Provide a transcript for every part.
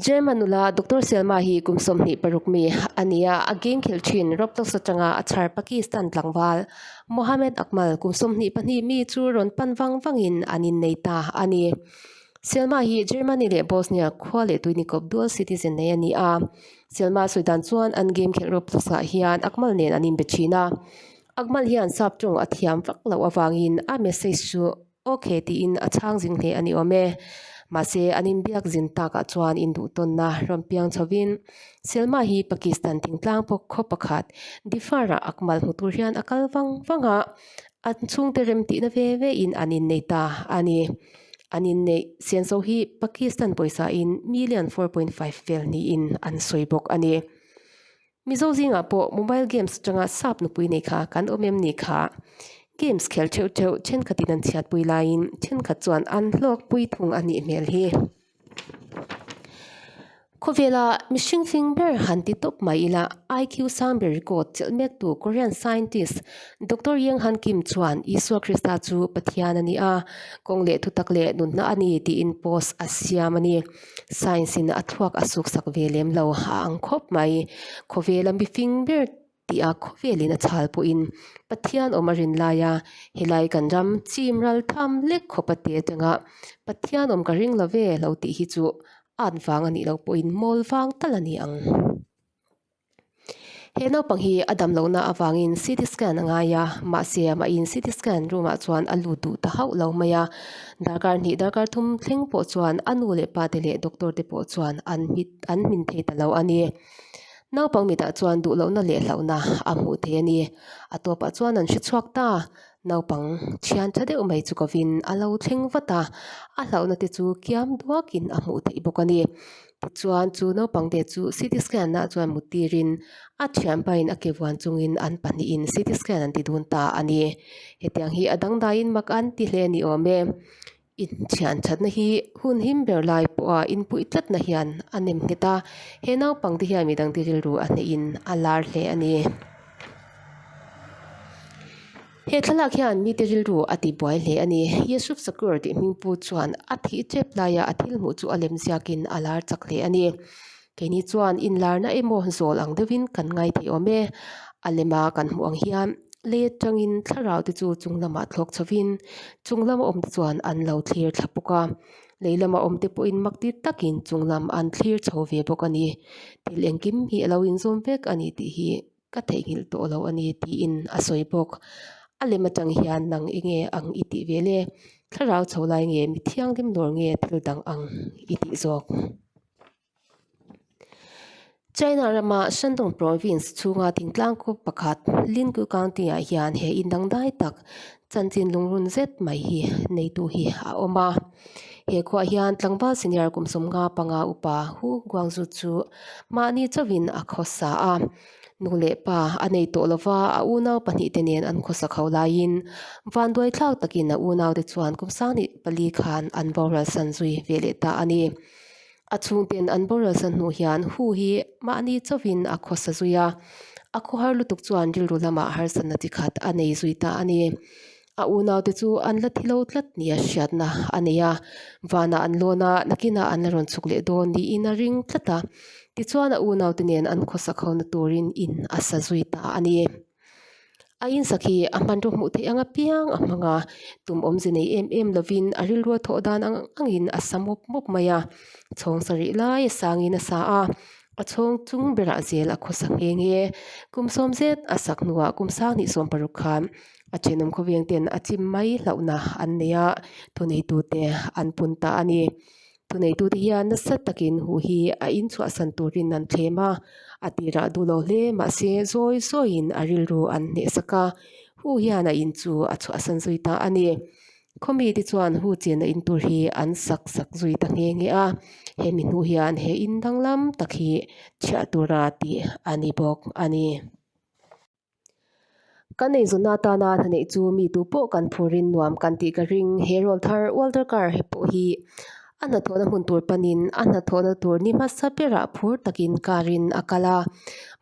German nula Doctor Selma hi kum sawmhnih paruk mi a ni a, a gengkhilh thin rawp taksa tanga a chhar Pakistan tlangval. Mohammed Akmal kum sawmhnih pahnih mi chu rawn pan vang vangin an innei ta a ni. Selma hi Germany leh Bosnia khua leh tui nikawp dual citizen nei a ni a. Selma sawi dan chuan an gengkhilh rawp taksa hian Akmal nen an inbe thin a. Akmal hian sap ṭawng a thiam vak loh avangin a message chu Ok he tiin a chhang zing hle a ni awm e. Mahse an inbiak zin takah chuan induhtawnna rawmpiang chhovin Selma hi Pakistan thingtlang pawh khaw pakhat Difar-ah a kmal hmu tur hian a kal vang vang a, a chhungte remtihna ve ve in an inneih ta a ni. An inneih sianso hi Pakistan pawisa in million four point five vel niin an sawi bawk a ni. Mizo zingah pawh mobile games atanga sap nupui nei kha kan awm em ni kha? Games khel theuh theuh thenkhatin an chhiatpui laiin thenkhat chuan an hlawkpui thung a nih hmel hi. Khawvela mihring hling ber han ti tawp mai ila IQ sang ber record chelh mek tu Korean scientist Doctor Yeng Han Kim chuan Isua Krista chu Pathian a ni a, kawng leh thutak leh nunna a ni tiin post a siam a ni. Science in a thuak a suk sak ve lem lo a ang khawp mai. Khawvela mi fing ber tia khawvelin a chhal pawhin Pathian awm a rin lai a, helai kan ram chim ral tham lek khawp a ti atanga Pathian awm ka ring lo ve lo tih hi chu at vang a nih loh pawhin mawl vang tal a ni ang. He naupang hi a dam lohna avangin CT scan a ngai a, mahse amahin CT scan roomah chuan a lut duh ta hauh lo mai a. Darkar hnih darkar thum thleng pawh chuan a nu leh pate leh doctor te pawh chuan an hmit an hmin thei ta lo a ni. Naupang mitah chuan duhlohna leh hlauhna a hmuh theih a ni. A tawpah chuan an hrichhuak ta, naupang thian tha deuh mai chu kovin a lo thleng vat a, a hlauhna te chu kiam duakin a hmuh theih bawk a ni. Tichuan, chu naupang te chu CT scan nah chuan mut tirin a thian pahin a ke vuan chungin an pahnihin CT scan an ti dun ta a ni. Hetiang hi a dangdaiin mak an ti hle ni awm e. Inthianthatna hi hun him ber lai pawha inpuih tlatna hian a nem nghet a. He naupang te hian midang ti rilru a hnehin a lar hle a ni. He thlalak hian mite rilru a tibuai hle a ni. Yusuf Shakur tih hming pu chuan a thih tep laia a thil hmuh chu a lem ziak in a lar chak hle a ni. Keini chuan in larna emaw zawl ang deuh in kan ngai thei awm e. A lem a kan hmuh ang hian let tang in thlarau te chu chung lam ah thlawk chho in chung lam a awm te chuan an lo thlir thla bawk a. Lei lam a awm te pawh in mak tir tak in chung lam an thlir chho ve bawk a ni. Thil engkim hi a lo in zawm vek a ni tih hi Ka theihnghilh tawh lo a ni, tiin a sawi bawk. A lem atang hian nang enge ang i tih ve le? Thlarau chho lai nge, mi thianghlim dawr nge thil dang ang i tih zawk? China rama Shandong Province chhunga thingtlang kawng pakhat Linggu County-ah hian he in dangdai tak Chanchin lungrun zet mai hi neitu hi a awm a, he khuaah hian tlangval senior kum sawmnga panga upa Hu Guangzhu chu mahni chauhin a khawsa a. Nu leh pa a nei tawh lova a unau pahnih te nen an khawsa kho laiin vanduai thlak takin a unaute chuan kum sang nih pali khan an voralsan zui ve leh ta a ni. A chhungten an boral sa hnu hian Hu hi mahni chauhin a khawsa zui a, a khawhar lutuk chuan rilru lamah harsa na chi khat a nei zui ta a ni. A unaute chu an la thi lo tlat nia hriatna a nei a, vanah an lawn a, nakinah an la rawn chhuk leh dawn niin a ring tlat a. Tichuan a unaute nen an khawsa kho na turin in a sa zui ta a ni. Aiin sakhi a hmanraw hmuh theih ang apiang a hmang a, tum awmze nei em em lovin a rilru a thawh dan ang ang angin a sa mawp mawp mai a, chhawng sa rih laia sangin a sa a, a chhawng chung berah zel a khawsa nghe nghe. Kum sawm zet a sak hnuah kum sang hnih sawm paruk khan a thenawm khawvengten a chim mai hlauhna an nei a, thunei tute an pun ta a ni. Thuneitute hian nasa takin huh hi a inchhuahsan turin an thlem a, a tirah duhlo hle mahse zawi zawiin a rilru an hnehsak a. Huh hian a in chu a chhuahsan zui ta a ni. Khawmi te chuan huh chenna in tur hi an sak sak zui ta nghe nghe a, hemi hnuh hian he in danglam tak hi chhiah tura tih a ni bawk a ni. Ka nei zawhna atana a hnaneih chu mi tu pawh kan phur rin nuam kan tih ka ring. He role thar ual darkar pawh hi a hnathawhna hmun tur panin a hnathawhna tur ni hmasa berah phur takin karin a kal a.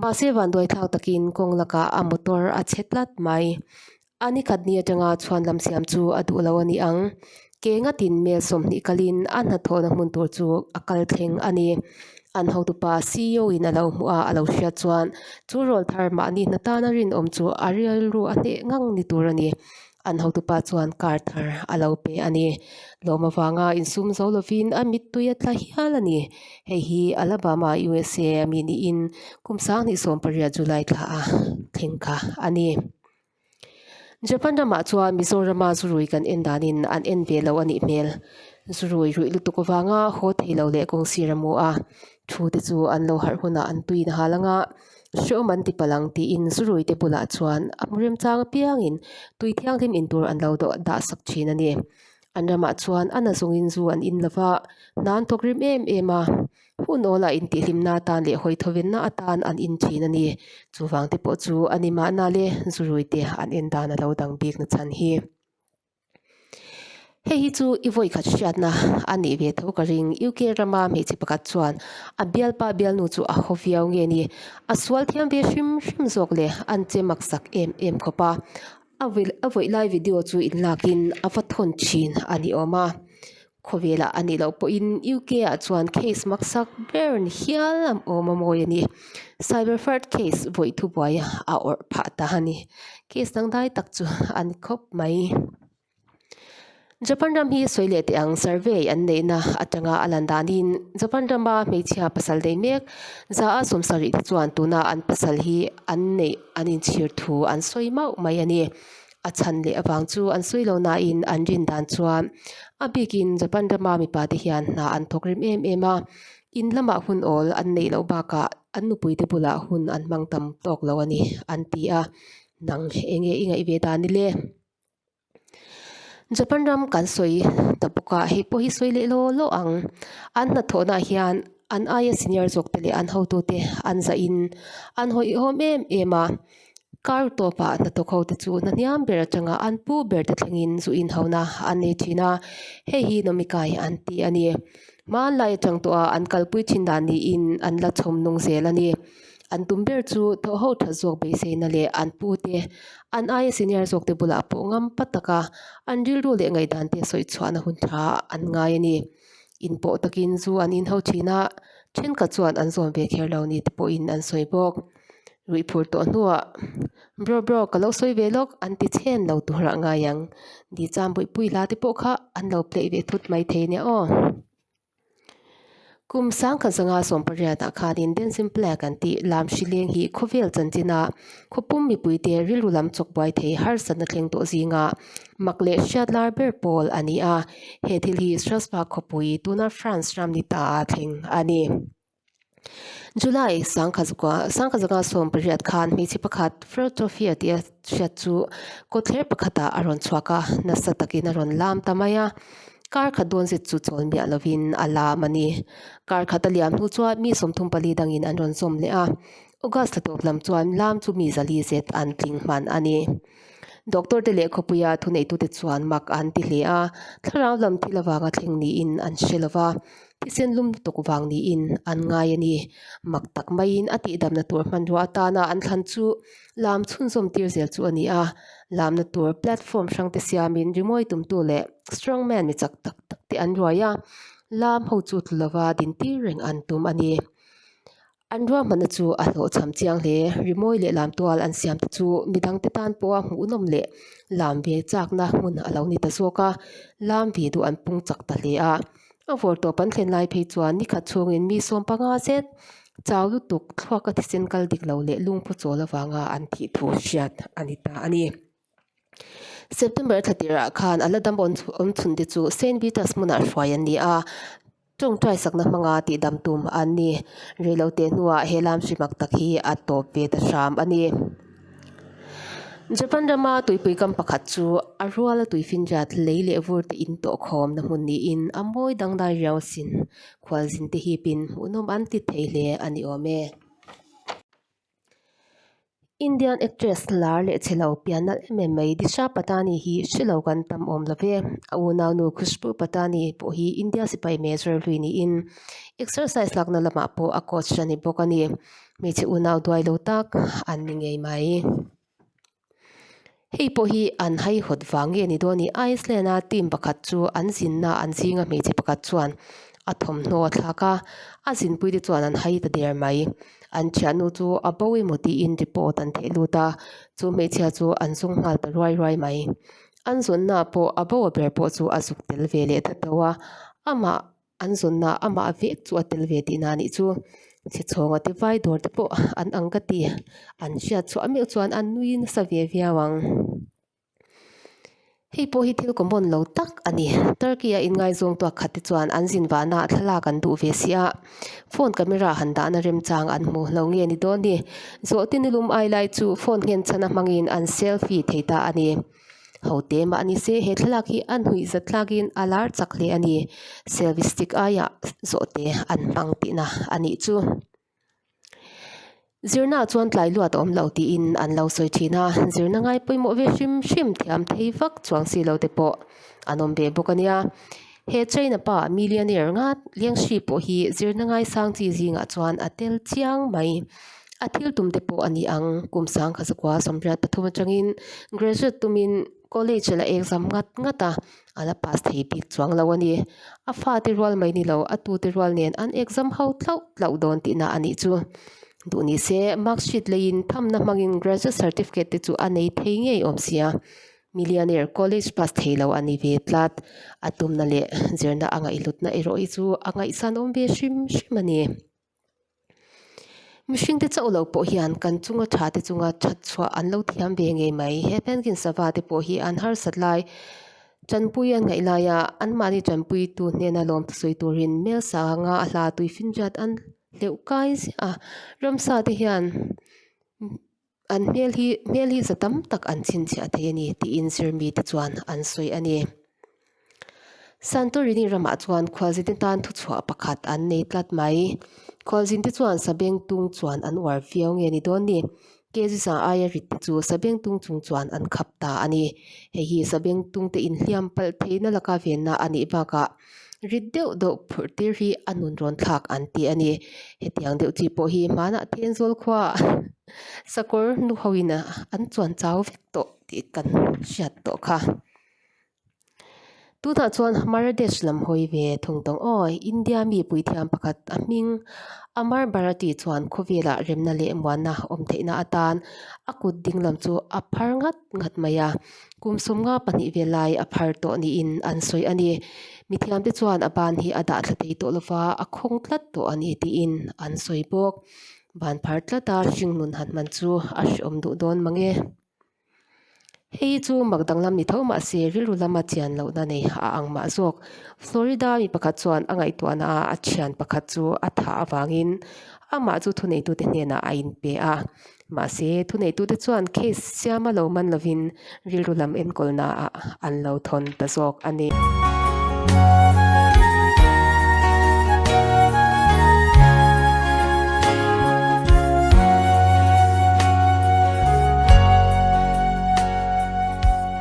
Mahse vanduaithlak takin kawng lakah a motor a chhe tlat mai. A ni khat ni atanga chhuan lam siam chu a duh lo a ni ang. Ke ngatin mel sawmhnih kalin a hnathawhna hmun tur chu a kal thleng a ni. An hotupa CEO in a lo hmu a, a lo hriat chuan chu rawl thar mahni hna tana rinawm chu a rilru a hneh ngang ni tur a ni. An hotupa chuan kar thar a lo pe a ni. Lawm avanga insum zo lovin a mittui a tla hial a ni. Hei hi Alabama, usa a mi niin kum sang hnih sawmpariat July thlaha thleng kha a ni. Japan ramah chuan Mizorama zu rui kan en danin an en ve lo a nih hmel. Zu rui ruih lutuk avanga haw thei lo leh kawng sir a mu a. Thu te chu an lo harh hunah an tuin a hal ang a. Hreawm an ti palang tiin zu rui te bulah chuan a hmu remchang apiangin tui thianghlim in tur an lo dawh dahsak thin a ni. An ramah chuan Anna zungin zu an in lova, hnan thawk rim em em a. Hun awl a intihhlimna atan leh hawi thawvenna atan an in thin a ni. Chuvang te pawh chu a ni mahna le zu rui te an en dan a lo dang bik nachhan hi. Hei hi chu i vawi khat hriatna a nih ve tho ka ring. UK rama hmeichhe pakhat chuan a bialpa bialnu chu a haw viau nge ni. A sual thiam ve hrim hrim zawk le an che maksak em em khawp a. A vawih lai video chu in lakin a va thawn thin a ni awm a. Khawvelah a nih loh pawhin UK ah chuan case maksak ber ni hial a awm a mawi a ni. Cyber fraud case vawih thubuaia a awrh phah ta a ni. Case dangdai tak chu a ni khawp mai. Japan ram hi sawi leh teh ang survey an neihna atanga a lan danin Japan rama hmeichhia pasal dei mek zaha sawmsak rih te chuan tuna an pasal hi an neih an inchhir thu an sawi mauh mai a ni. A chhan leh avang chu an sawi loh nain an rin dan chuan a bikin Japan rama mipa te hian hna an thawk rim em em a, in lamah hun awl an neih loh bakah an nupui te bulah hun an hmang tam tawk lo a ni an ti a. Nang enge i ngaih ve dan nile. Japan ram kan sawi ta bawk a, hei pawh hi sawi leh lawh lawh ang. An hnathawhnah hian an aia senior zawkte leh an hotute an zah in an hawihhawm em em a. Kar tawpah hnathawk hote chu hmanhiam ber atanga an pu ber te thleng in zu inhauh na an nei thin a, hei hi nomikai an ti a ni. Hmanlai atang tawh a an kalpui thin dan niin an la chhawm nung zel a ni. an tum ber chu thaw ho tha zawk beiseina leh an pu te an aia senior zawk te bulah pawh ngam pa taka an rilru leh ngaihdan te sawi chhuahna hun thla an ngai a ni. In paw takin chu an inho thin a, thenkhat chuan an zawn ve kher lo ni te pawhin an sawi bawk. Ruihphur tawh hnuah, Bro bro, ka lo sawi ve lawk, an ti chhen lo tur a ngai ang. Ni chuan buaipui hla te pawh kha an lo pleih ve thut mai thei nia aw. Kum sangkhat zanga sawm pariatah khanin Den Simplek an tih lam hri leng hi khawvel chanchinah khawpum mipuite rilru lam chawk buai thei harsatna thleng tawh zinga mak leh hriatlar ber pawl a ni a. He thil hi Strasbourg khawpui, tuna France ram ni ta ah a thleng a ni. July sangkhat zaka sangkhat zaka sawm pariat khan hmeichhe pakhat Fro Trophy a tih a hriat chu kawtthler pakhatah a rawn chhuak a nasa takin a rawn lam ta mai a kar khat dawn zet chu chawl miah lovin a lam a ni kar khat a liam hnu chuan mi sawmthum pali dangin an rawn zawm leh a. August tla tawp lam chuan lam chu mi zali zet an tling hman a ni. Doctor te leh khawpuia thuneitute chuan mak an ti hle a, thlarau lam thil avanga thleng niin an hre lova, thisen lumtuk vang niin an ngai a ni. Mak tak maiin a tihdamna tur hmanrua atana an thlan chu lam chhunzawm tir zel chu a ni a, lamna tur platform hrangte siamin rimawi tumtu leh strongman mi chak tak tak te an ruai a, lam ho chu tlu lova din tir reng an tum a ni. An ruahmanna chu a hlawhchham chiang hle. Rimawi leh lamtual an siam te chu midang te tan pawha hmuhnawm leh lam ve chakna hmun a lo ni ta zawk a, lam ve duh an pung chak ta hle a. A vawr tawp an thlen lai phei chuan nikhat chhungin mi sawm panga zet chau lutuk thluaka thisen kal dik lo leh lungphu chawl avanga an thih thu hriat a ni ta a ni. September thla tirah khan a la dam awm chhun te chu Saint Peter's hmunah hruai an ni a, tawngtai sakna hmanga tihdam tum an ni. Reilo te hnuah he lam hri mak tak hi a tawp ve ta hram a ni. Japan rama tuipui kam pakhat chu a ruala tui finriat lei leh vur te in tawh khawm na hmun niin a mawi dang dai riau sin khualzin te hip in hmuhnawm an ti thei hle a ni awm e. Indian actress lar leh che lo pianna em em mai Disha Patani hi hre lo kan tam awm lo ve. A unau nu Khushbu Patani pawh hi India sipai major hlui niin exercise lakna lamah pawh a coach a ni bawk a ni. Hmeichhe unau duai lo tak an ni ngei mai. Hei pawh hi an haihnawt vang nge ni daw a ni. Iceland-a team pakhat chu an zinnaah an zinga hmeichhe pakhat chuan a thawmhnaw a thlak a, a zinpui te chuan an hai ta der mai. An thiahnu chu a bo emaw tiin report an theih lut a, chu hmeichhia chu an zung nghal ta ruai ruai mai. An zawnnaah pawh a bo a ber pawh chu a zuk tel ve leh ta deuh a, amah An zawnna amah vek chu a tel ve tih na nih chu chhichhawnga te vai dawr te pawh an ang ka ti. An hriat chhuah meuh chuan a nui nasa ve viau ang. Hei pawh hi thil common lo tak a ni. Turkey a inngaizawngtuak khat te chuan an zin vahna ah thlalak an duh ve si a, phone camera han dahna remchang an hmu lo nge ni dawn ni? Zawhte nilum ai lai chu phone nghenchhana hmangin an selfie thei ta a ni. Hote mah ni se, he thlalak hi a hnuih zat tlakin a lar chak hle a ni. Selfie stick aia zawhte an hmang tihna a nih chu. Zirnaah chuan tlai luat a awm lo tiin an lo sawi thin a, zirna ngai pawimawh ve hrim hrim thiam thei vak chuang si lo te pawh an awm ve bawk a nia. He China pa millionaire ngat Liang Shi pawh hi zirna ngaisang chi zingah chuan a tel chiang mai. A thil tum te pawh a ni ang. Kum sang kha zakua sawmriat pathum atangin graduate tumin college a la exam ngat ngat a, a la pass thei bik chuang lo a ni. A fate rual mai ni lo, a tute rual nen an exam ho tlauh tlauh dawn tihna a nih chu. Duh ni se, marksheet leiin thamna hmangin graduate certificate te chu a nei thei ngei awm sia. Millionaire college pass thei lo a ni ve tlat. A tumna leh zirna a ngaihlutna erawh hi chu a ngaihsan awm ve hrim hrim a ni. Mihringte chauh lo pawh hian kan chunga tha te chunga that chhuah an lo thiam ve ngei mai. He Penguin sava te pawh hi an harsat lai, tanpui an ngaih lai a, anmahni tanpuitu hnena lawmthu sawi turin hmel sanga a hla tuifinriat an hleuh kai ziah a. Ramsa te hian. An hmel hi hmel hi za tam tak an chhinchhiah thei a ni, tiin Sirmite chuan an sawi a ni. Santorini ramah chuan khualzinte tan thuchhuah pakhat an nei tlat mai. Khualzinte chuan Sabeng tung chuan an uar viau nge ni dawn ni? Kejisa aia ritte chu Sabeng tung chung chuan an khap ta a ni. Hei hi Sabeng tungte inhliam palh theihna laka venna a nih bakah Rit deuh deuh phurh tir hi a nun rawn thlak an ti a ni. Hetiang deuh chi pawh hi hmanah thian zual khuaa sakawr nu ho in an chuan chau vek tawh tih kan hriat tawh kha. Tunah chuan Marradesh lam hawi ve thung tawng aw. India mi puithiam pakhat a hming Amar Bharati chuan khawvelah remna leh muanna awm theihna atan a kut dinglam chu a phar ngat. nghat mai a, kum sum nga pahnih vel lai a phar tawh niin an sawi a ni. Mithiam te chuan a ban hi a dah thla thei tawh lova, a khawng tlat tawh a ni tiin an sawi bawk. Ban phar tlata hring nun han hman chu a hreawm duh dawn mang e. Hei chu mak danglam ni tho mahse rilru lama thian lohna nei a ang mah zawk. Florida mi pakhat chuan a ngaihtuahna ah a thian pakhat chu a thah avangin amah chu thuneitute hnenah a inpe a. Mahse, thuneitute chuan case siam a lo man lovin rilru lam enkawl naah an lo thawn ta zawk a ni.